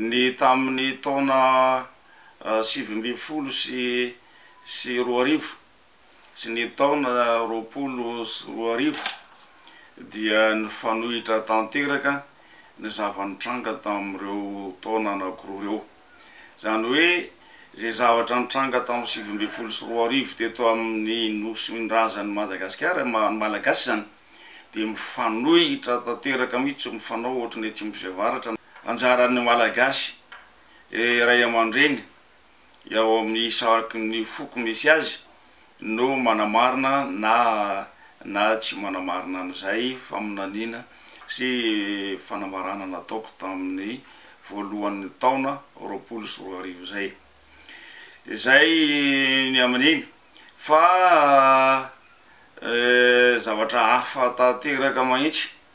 Ny tamin'ny taona sivy ambin'ny folo sy sy roa arivo sy ny taona roapolo sy roa arivo dia nifanohitra tanteraka ny zava-nitranga tamin'ireo taona anankiroa ireo. Izany hoe izay zavatra nitranga tamin'ny sivy ambin'ny folo sy roa arivo teto amin'ny nosin-drazan'i Madagasikara, ny Malagasy izany dia mifanohitra tanteraka mihitsy, mifanao ohatry ny atsimo sy avaratra. Anjaran'ny Malagasy ray aman-dreny eo amin'ny isaky ny foko misy azy. no manamarina na na tsy manamarina an'izay faminaniana sy fanambarana nataoko tamin'ny voalohan'ny taona roapolo sy roa arivo izay. Izay ny amin'iny. Fa zavatra hafa tanteraka mahitsy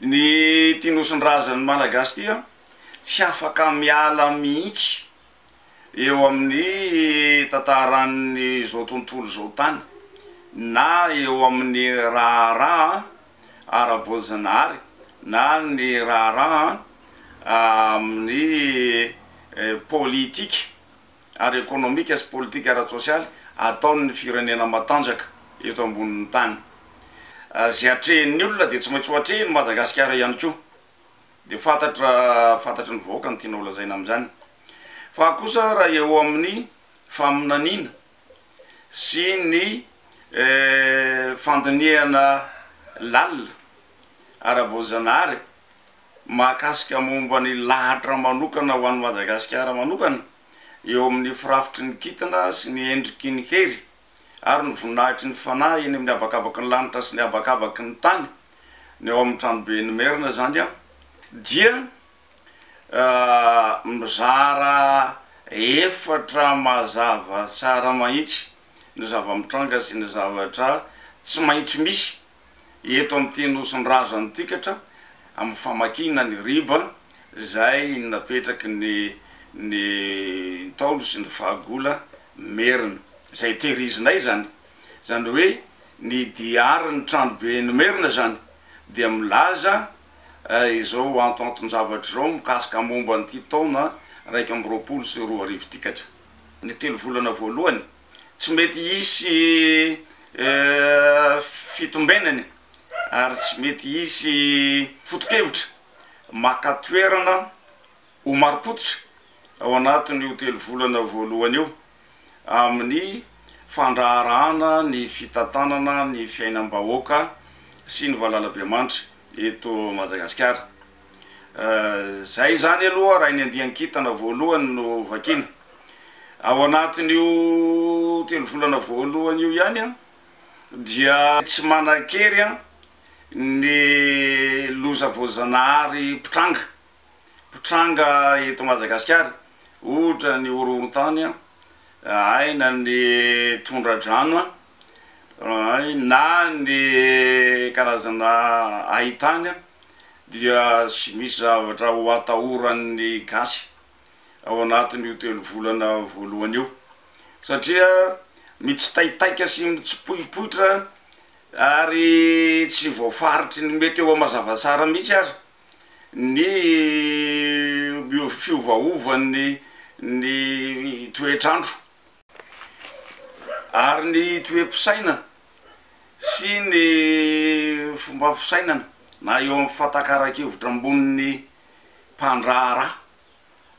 Ny ity nosin-drazan'ny Malagasy ity an, tsy afaka miala mihitsy eo amin'ny tantaran'izao tontolo izao tany, na eo amin'ny raharaha ara-boajanahary, na ny raharaha amin'ny politika. ary ekonomika sy politika ara-tsosialy ataon' ny firenena matanjaka eto ambonin' ny tany. Izay atrehin' ny olona dia tsy maintsy ho atrehin' i Madagasikara ihany koa. Dia fantatra fantatry ny vahoaka ny tiana ho lazaina amin' izany. Fa kosa raha eo amin' ny faminaniana sy ny fandinihana lalina ara-boajanahary, mahakasika momba ny lahatra manokana ho an'i Madagasikara manokana eo amin'ny firafitry ny kintana sy ny endriky ny hery ary ny voninahitry ny fanahy eny amin'ny habakabaky ny lanitra sy ny habakabaky ny tany ny ao amin'ny Tranoben'ny Merina izany dia mizara efatra mazava tsara mahitsy ny zava-mitranga sy ny zavatra tsy maintsy misy eto amin'ity Nosin-dRazan'i Tikatra amin'ny famakiana ny riba izay napetraky ny ny Ntaolo sy ny Fahagola Merina izay tehirizinay izany. Izany hoe ny diarin'ny Tranoben'i Merina izany dia milaza izao antonanton-javatra izao mikasika momba an'ity taona iraika amby roapolo sy roa arivo Tikatra. Ny telo volana voalohany tsy mety hisy fitombenany ary tsy mety hisy foto-kevitra maka toerana ho marim-pototra ao anatin'io telo volana voalohany io amin'ny fandraharahana ny fitantanana ny fiainam-bahoaka sy ny valalabemanitra eto Madagasikara. Izay izany aloha raha ny andian-kintana voalohany no vakiana. Ao anatin'io telo volana voalohany io ihany dia tsy manan-kery ny loza voajanahary mpitranga mpitranga eto Madagasikara, ohatra ny horohoron-tany, aina ny tondra-drano, na ny karazana hain-tany dia tsy misy zavatra ho atahoran'ny gasy. ao anatin'io telo volana voalohany io satria mitsitaitaika sy mitsipoipoitra ary tsy voafaritry ny mety eo mazava tsara mihitsy aza ny fiovaovan'ny ny toetr'andro ary ny toe-pisaina sy ny fomba fisainana na eo amin'ny fahatakaraki-hevitra amboniny mpandraharaha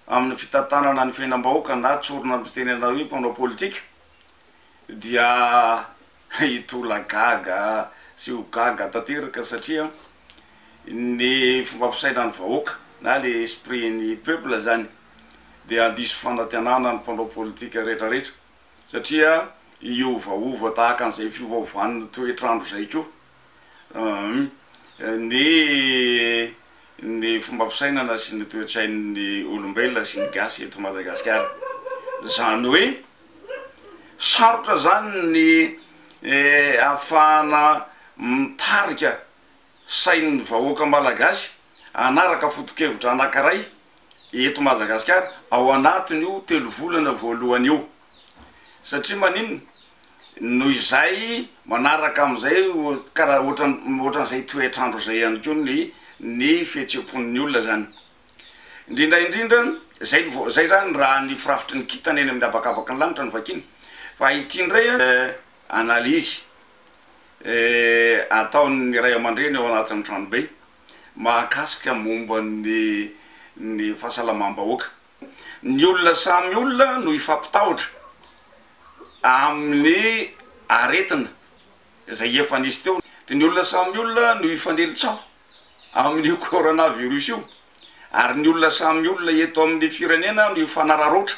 amin'ny fitantanana ny fiainam-bahoaka na tsorina mitenena hoe mpanao politika dia hitolagaga sy ho gaga tanteraka satria ny fomba fisainan'ny vahoaka na ilay esprit ny peuple izany dia handiso fanantenana ny mpanao politika rehetrarehetra satria hiovaova tahaka an'izay fiovaovan'ny toetr'andro izay koa. Humm. Ny ny fomba fisainana sy ny toetsain'ny olombelona sy ny gasy eto Madagasikara. Zany hoe sarotra zany ny ahafahana mitarika sain'ny vahoaka malagasy hanaraka fotokevitra anankiray eto Madagasikara ao anatin'io telo volana voalohany io. Satria maninona? Noho izay manaraka amin'izay kara ohatran'ny ohatran'izay toetr'andro izay ihany koa ny ny fihetseham-pon'ny olona izany. Indrindra indrindra, izay ny izay izany raha ny firafitry ny kintana eny amin'ny habakabaky ny lanitra no vakiana. Fa ity indray analyse ataon'ny ray aman-dreny ao anatin'ny tranobe mahakasika momba ny ny fahasalamam-bahoaka. Ny olona samy olona no hifampitahotra amin'ny aretina izay efa nisy teo, dia ny olona samy olona no hifanely tsaho amin'io coronavirus io, ary ny olona samy olona eto amin'ny firenena no hifanararaotra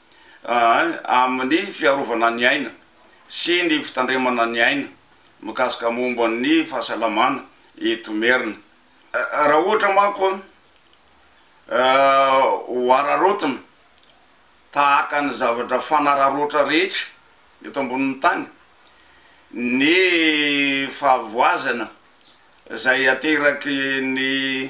amin'ny fiarovana ny aina sy ny fitandremana ny aina mikasika momba ny fahasalamana eto Imerina. Raha ohatra manko ho araraotina tahaka ny zavatra fanararaotra rehetra eto ambonin'ny tany ny fahavoazana izay ateraky ny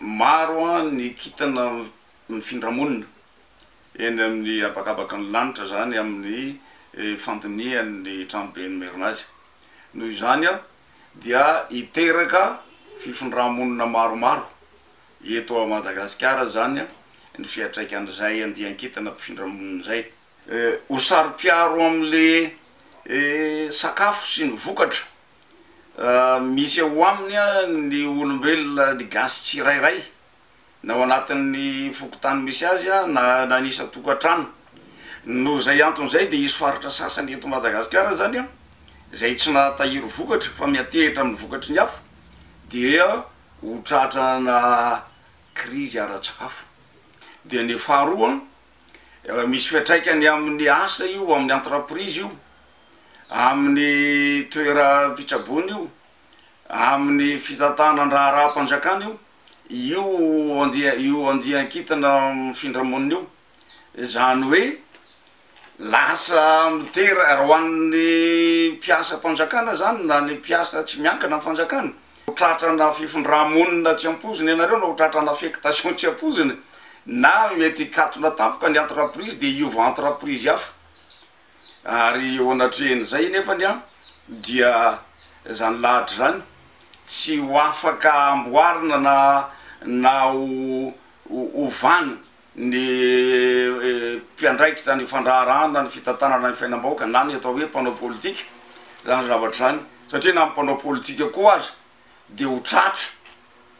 Maro ny kintana mifindra monina eny amin'ny habakabaka ny lanitra izany amin'ny fandinihan'ny tranoben'ny Merina azy. Noho izany dia hiteraka fifindrà-monina maromaro eto Madagasikara izany ny fiantraikan'izay andian-kintana mpifindra monina izay. ho saro-piaro amin'ilay sakafo sy ny vokatra misy ao aminy ny olombelona gasy tsirairay na ao anatin'ny fokontany misy azy na na ny isan-tokantrano. Noho izay antony izay dia hisy faritra sasany eto Madagasikara izany izay tsy nahatahiry vokatra fa miantehitra amin'ny vokatry ny hafa dia ho tratranà krizy ara-tsakafo. Dia ny faharoa Misy fiantraikany amin'ny asa io, amin'ny entreprise io, amin'ny toeram-pitsaboana io, amin'ny fitantanan-draharaham-panjakana io, io andia- io andian-kintana mifindra monina io. Izany hoe lasa mitera- ho an'ny mpiasam-panjakana izany na ny mpiasa tsy miankina amin'ny fanjakana, Ho tratrana fifindrà-monina tsy ampoizina ianareo na ho tratrana affectation tsy ampoizina na mety hikatona tampoka ny entreprise dia hiova entreprise hafa. Ary eo anatrehan'izay nefany an, dia izany lahatra izany tsy ho afaka amboarina na na ho ovana ny mpiandraikitra ny fandraharahana ny fitantanana ny fiainam-bahoaka na ny atao hoe mpanao politika izany zavatra izany satria na ny mpanao politika koa aza dia ho tratra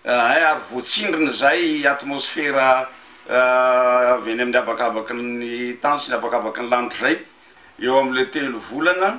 eh, ary voatsindrina izay atmosfera eh, avy eny amin'ny habakabaky ny tany sy ny habakabaky ny lanitra izay eo amin'ilay telo volana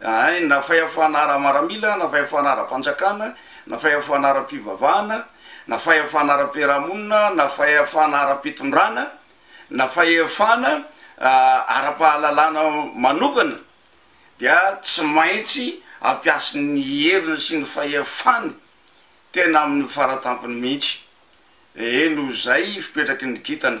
Hay, na fahefana ara-maramila, na fahefana ara-panjakana, na fahefana ara-pivavahana, na fahefana ara-piarahamonina, na fahefana ara-pitondrana, na fahefana ara-pahalalana manokana, dia tsy maintsy hampiasa ny heriny sy ny fahefany tena amin'ny fara-tampony mihitsy. Eny, noho izay fipetraky ny kintana.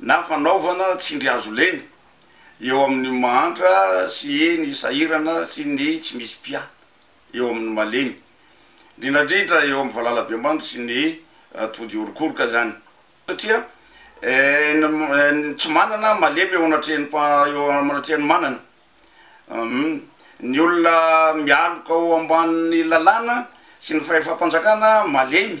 na fanaovana tsindrihazolena eo amin' ny mahantra sy ny sahirana sy ny tsy misy mpiahy eo amin' ny malemy, indrindra indrindra eo amin' ny valalabemandry sy ny tody orokoroka izany. Satria ny tsy manana malemy eo anatrehan' eo anatrehan' ny manana. Ny olona mialoka ao ambanin' ny lalàna sy ny fahefam-panjakana malemy.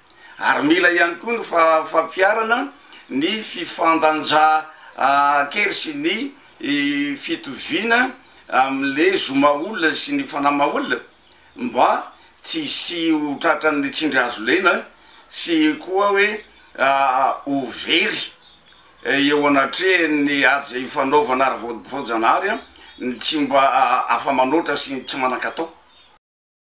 Ary mila ihany koa ny fampiharana ny fifandanjaan-kery sy ny fitoviana amin'ilay zo maha-olona sy ny fanahy maha-olona mba tsy hisy ho tratran'ny tsindry azo lena sy koa hoe ho very eo anatrehan'ny ady izay ifanaovana ara-boajanahary ny tsy mba afa-manoatra sy ny tsy manan-katao.